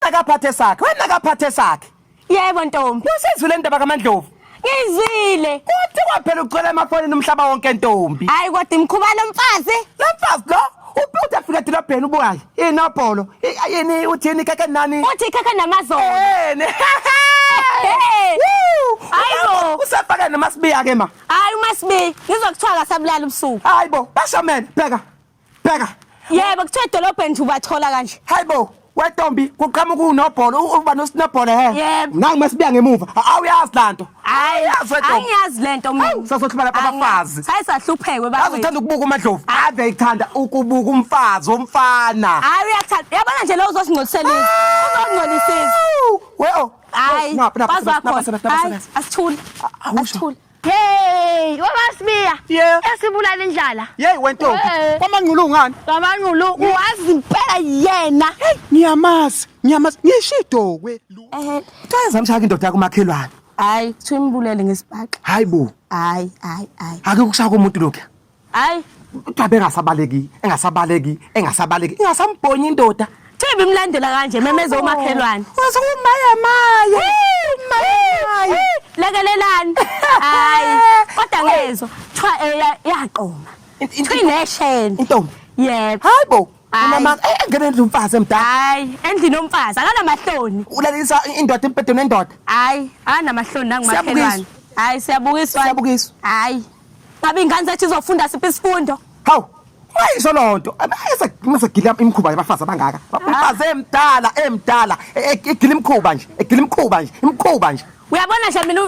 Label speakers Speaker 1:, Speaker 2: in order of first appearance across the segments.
Speaker 1: akaphathe sakhe wena akaphathe sakhe yebo ntombi
Speaker 2: usizwile ndaba kamandlovu
Speaker 1: ngizwile
Speaker 2: kuthi kwaphela
Speaker 1: ucela emafonini umhlaba wonke ntombi hayi kodwa imkhuba
Speaker 2: lomfazi lomfazi lo
Speaker 1: ubuthi afika edolobheni ubukayo inobholo yini uthini keke nani uthi keke namazolo
Speaker 2: yini Hayibo usafaka nomasibiya
Speaker 1: ke ma Hayi umasibiya
Speaker 2: ngizokuthiwa kasabulala ubusuku Hayibo bashamene
Speaker 1: bheka bheka
Speaker 2: yebo kuthiwa edolobheni nje ubathola kanje hayi bo wetombi
Speaker 1: kuqhamuka unobhola uba nosinobhola he yebo nangu masibuya
Speaker 2: ngemuva
Speaker 1: awuyazi lanto hayi
Speaker 2: angiyazi lento mina sasohluma lapha abafazi
Speaker 1: hayi sahlupheke
Speaker 2: baba uthanda ukubuka umadlovu
Speaker 1: ah. ave ithanda ukubuka umfazi omfana hayi uyathanda
Speaker 2: yabona nje lo uzosingcolisela uzongcolisisa we
Speaker 1: oh hayi
Speaker 2: bazakhona asithule asithule Hey,
Speaker 3: wabasibiya. Yeah. Esibulala
Speaker 1: indlala.
Speaker 3: Yey wentombi. Hey.
Speaker 1: Kwamangqulu ngani? Babangulu
Speaker 3: wazi impela yena. Ngiyamazi,
Speaker 1: ngiyamazi. Ngisho idokwe. Ehe. Cha zamshaka indoda yakho makhelwane. Hayi, kuthiwa
Speaker 2: imbulele ngesibhaxi. Hayi bo. Hayi,
Speaker 1: hayi,
Speaker 2: hayi. Ake kusaka
Speaker 1: umuntu lokho. hayi
Speaker 2: kuthiwa bengasabaleki
Speaker 1: engasabaleki engasabaleki ingasambhonyi indoda Thembi imlandela
Speaker 2: kanje memeza umakhelwane. Waze umaya
Speaker 1: maya. Maya.
Speaker 2: Lekelelani. Hayi. Kodwa ngezwe kuthiwa eya eh, yaqoma. Inesheni. Intombi.
Speaker 1: Yebo. Hayibo.
Speaker 2: Unama
Speaker 1: eh, engene
Speaker 2: endlu
Speaker 1: umfazi emdala. Hayi, endlini
Speaker 2: omfazi akanamahloni. Ulalisa indoda
Speaker 1: impedweni endoda. Hayi, akanamahloni
Speaker 2: nangumakhelwane. Hayi siyabukiswa. Siyabukiswa. Hayi. Ngabe ingane zethu izofunda siphi isifundo? Hawu.
Speaker 1: Ayisho lonto. Ayise mase gila imkhuba yabafazi abangaka. Bafazi emdala emdala e, e, egila imkhuba nje. Egila imkhuba nje. Imkhuba nje. Uyabona nje mina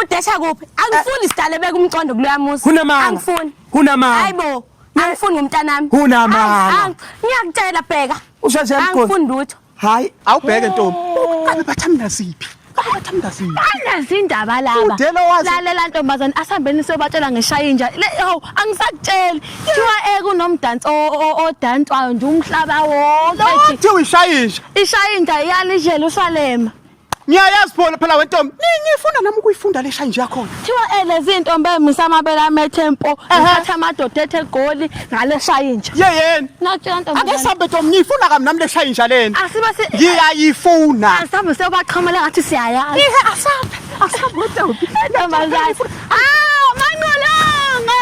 Speaker 2: udesha kuphi? Angifuni eh. sidale beka umcondo kuloya musa. Kunamanga. Angifuni. Kunamanga. Hayibo. Angifuni ngomntanami. Kunamanga. Ngiyakutshela bheka. Usheshe ngifuni lutho. hayi awubheke
Speaker 1: ntombi uqale bathamda siphi bathamda siphi
Speaker 3: banazi indaba laba Udela wazi- lalela ntombazane asihambeni siyobatshela ngishaya inja Le- hawu angisakutsheli kuthiwa eku nomdansi o- o- odanswayo nje umhlaba wonke Lothe uyishayisha
Speaker 1: ishaya inja
Speaker 3: iyalidlela usalema ngiyayazi
Speaker 1: phona phela wentombi ningifunda nami ukuyifunda le shanje yakhona thiwa ele zintombi
Speaker 3: emisa amabele amethe mpo ngithatha amadoda ethe goli ngale shayinja ye yeni nakutshela
Speaker 1: ntombi ake
Speaker 3: sambe ntombi ngiyifuna
Speaker 1: kami nami le shayinja leni asibe si
Speaker 3: ngiyayifuna
Speaker 1: asambe sewubaxhamela
Speaker 3: ngathi siyayazi ihe asambe asambe ntombi ntombazane ah manqolonge